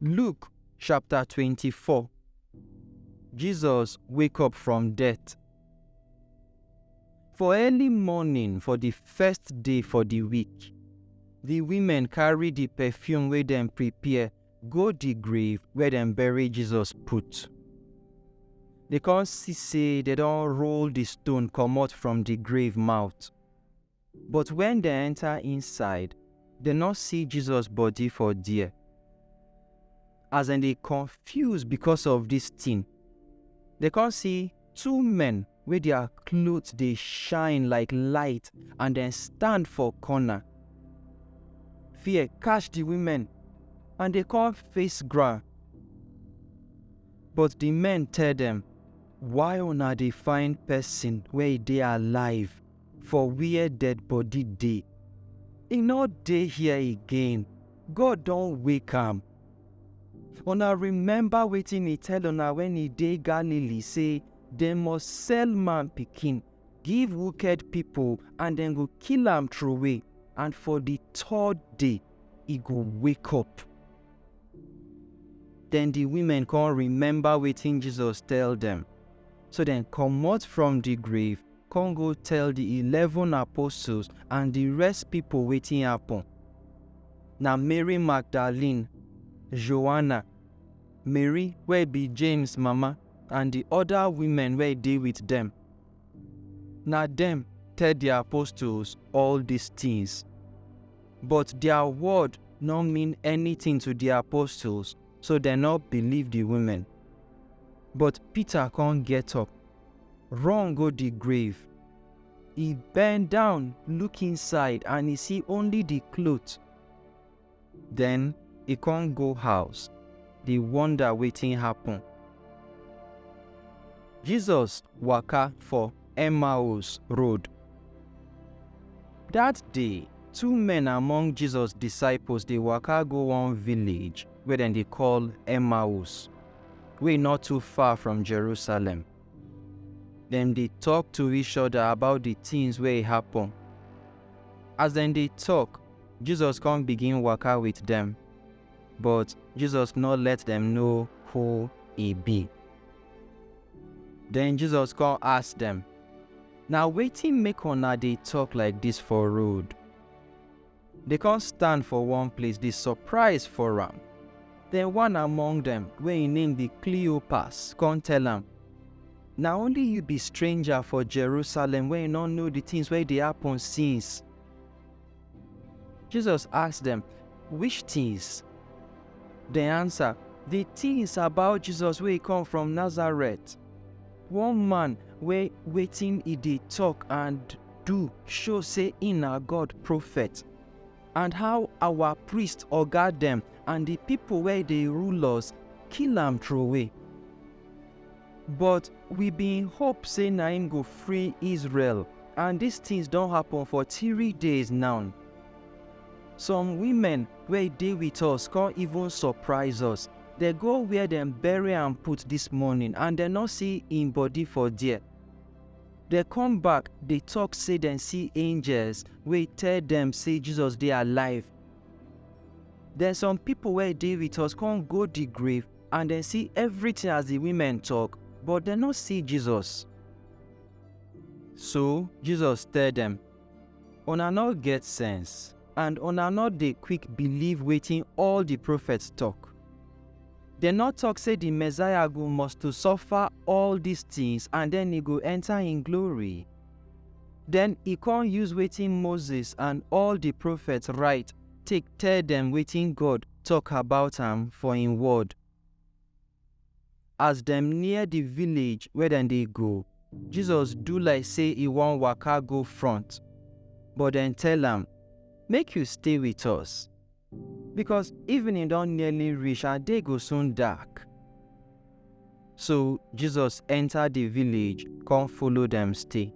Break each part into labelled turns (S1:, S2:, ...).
S1: Luke chapter 24 Jesus wake up from death. For early morning for the first day for the week, the women carry the perfume wey dem prepare go di grave where dem bury Jesus put. Dey come see say dem don roll di stone comot from di grave mouth. But wen dem enter inside, dem no see Jesus body for there. As dem dey confuse because of dis tin, dem come see two men wey their clothes dey shine like light and dem stand for corner. Fear catch the women and they come face ground. But the men tell them, Why una dey find person wey e dey alive for where dead body dey? E no dey here again. God don wake am. Una remember wetin e tell una when e dey Galilee say, Dem must sell man pikin give wuked pipol and dem go kill am trowey, and for di third day e go wake up. Den di women kon remember wetin Jesus tell dem, so dem komot from di grave kon go tell di eleven apostles and di rest pipol wetin happen. Na Mary Magdalene, Joanna, Mary wey bi James mama, and di oda women wey dey wit dem. Na dem tell di apostles all dis tins. But dia word no mean anytin to di apostles, so dem no believe di women. But Peter con get up, run go di grave. E bend down look inside and e see only di cloth. Den e kon go house dey wonder wetin happen. Jesus waka for Emmaus road. Dat day, two men among Jesus disciples dey waka go one village wey dem dey call Emmaus, wey nor too far from Jerusalem. Dem dey tok to each oda about di tins wey happen. As dem dey tok, Jesus kon bigin waka with dem, but Jesus nor let dem know who e bi. Den Jesus kon ask dem, Na wetin make una dey tok like dis for road? Dey kon stand for one place dey surprise for am. Den one among dem, wey en name bi Kleopas, kon tell am, Na only yu bi stranger for Jerusalem wey nor know di tins wey dey happen since? Jesus ask dem, Which tins? Dem ansa, Di tins about Jesus wey come from Nazareth, one man wey wetin e dey tok and do show sey e na God profet, and how our priest oga dem and di pipo wey dey rule us kill am troway. But we bin hope sey na im go free Israel, and dis tins don happen for three days now. Some women wey dey wit us con even surprise us. Dem go where dem bury am put dis morning and dem no see im body for there. Dem come back dey tok sey dem see angels wey tell dem sey Jesus dey alive. Den some pipo wey dey wit us con go di grave. and dem see everything as the women talk, but dem no see Jesus. So Jesus tell dem, Una no get sense, and una no dey quick believe wetin all the prophets talk. Dem no talk say the Messiah go must to suffer all these things and then he go enter in glory. Then he come use wetin Moses and all the prophets write take tell dem wetin God tok about am for im word. As dem near di village where dem dey go, Jesus do like sey e wan waka go front, but dem tell am, Make you stay with us, becos evening don nearly reach and day go soon dark. So Jesus enter di village come follow dem stay.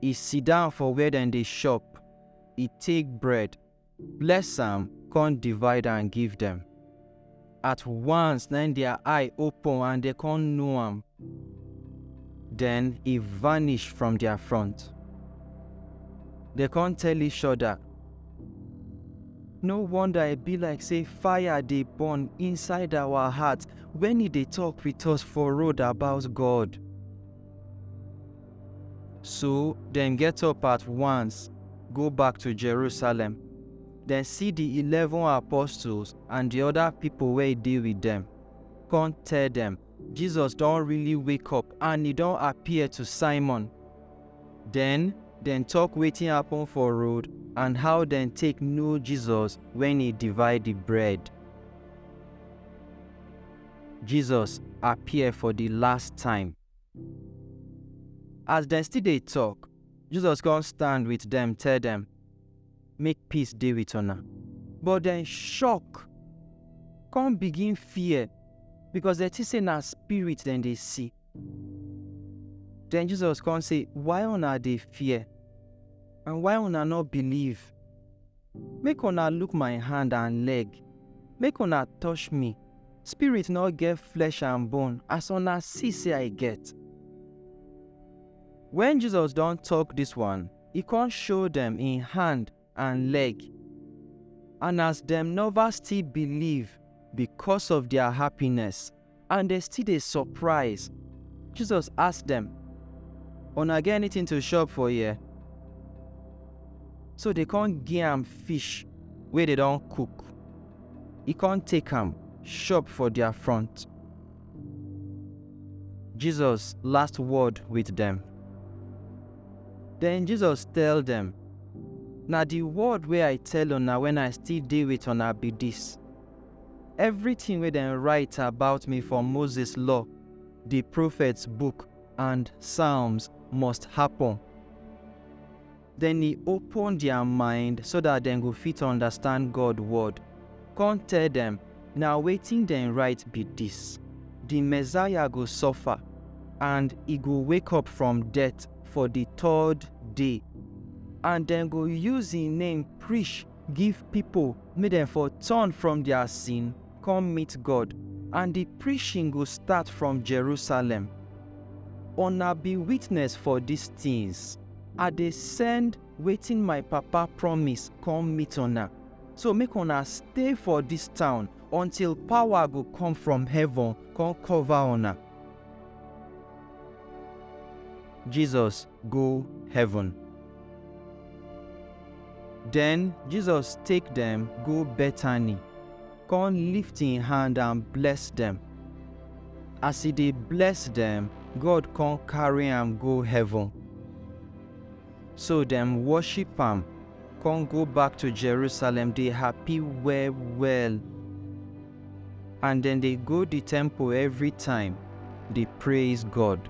S1: E sit down for where dem dey chop, e take bread, bless am, con divide am give dem. At once na im their eye open and dem con know am. Den e vanish from their front. Dem con tell each other, No wonder e be like say fire dey burn inside our heart when e dey talk with us for road about God. So dem get up at once, go back to Jerusalem. Dem see di eleven apostles and di oda pipo wey dey wit dem, con tell dem, Jesus don really wake up and e don appear to Simon. Den, dem tok wetin happen for road and how dem take know Jesus wen e divide di bread. Jesus appear for di last time. As dem still dey tok, Jesus kon stand with dem tell dem, Make peace dey with una. But dem shock kon begin fear because dem tink sey na spirit dem dey see. Den Jesus kon sey, Why una dey fear and why una nor believe? Make una look my hand and leg, make una touch me, spirit nor get flesh and bone as una see sey I get. Wen Jesus don tok dis one, e con show dem im hand and leg. And as dem nova still believe becos of dia happiness, And dem still dey surprise. Jesus ask dem, Una get anything to chop for here? So dey come give am fish wey dey don cook. E come take am chop for their front. Jesus last word with dem. Then Jesus tell dem, Na the word wey I tell una when I still dey with una be this. Evritin wey dem rite about mi for Moses Law, di Profets Book and Psalms must hapun. Den e open dia mind so dat dem go fit undastand God Wod, kon tell dem, Na wetin dem rite bi dis, Di Messiah go sofa and e go wake up from death for di third day, and dem go use en name prish Give pipo make dem for turn from dia sin kon meet God, and di preachin go start from Jerusalem. Una bi witness for dis tins. I dey send wetin my Papa promise kom meet una. So make una stay for dis town until pawa go kom from heaven kon kover una. Jesus go heaven. Den Jesus take dem go Bethany, kon lift en hand and bless dem. As e dey bless dem, God kon karry am go heaven. So dem woship am, kon go back to Jerusalem dey happy well-well. And dem dey go di temple evritime, dey praise God.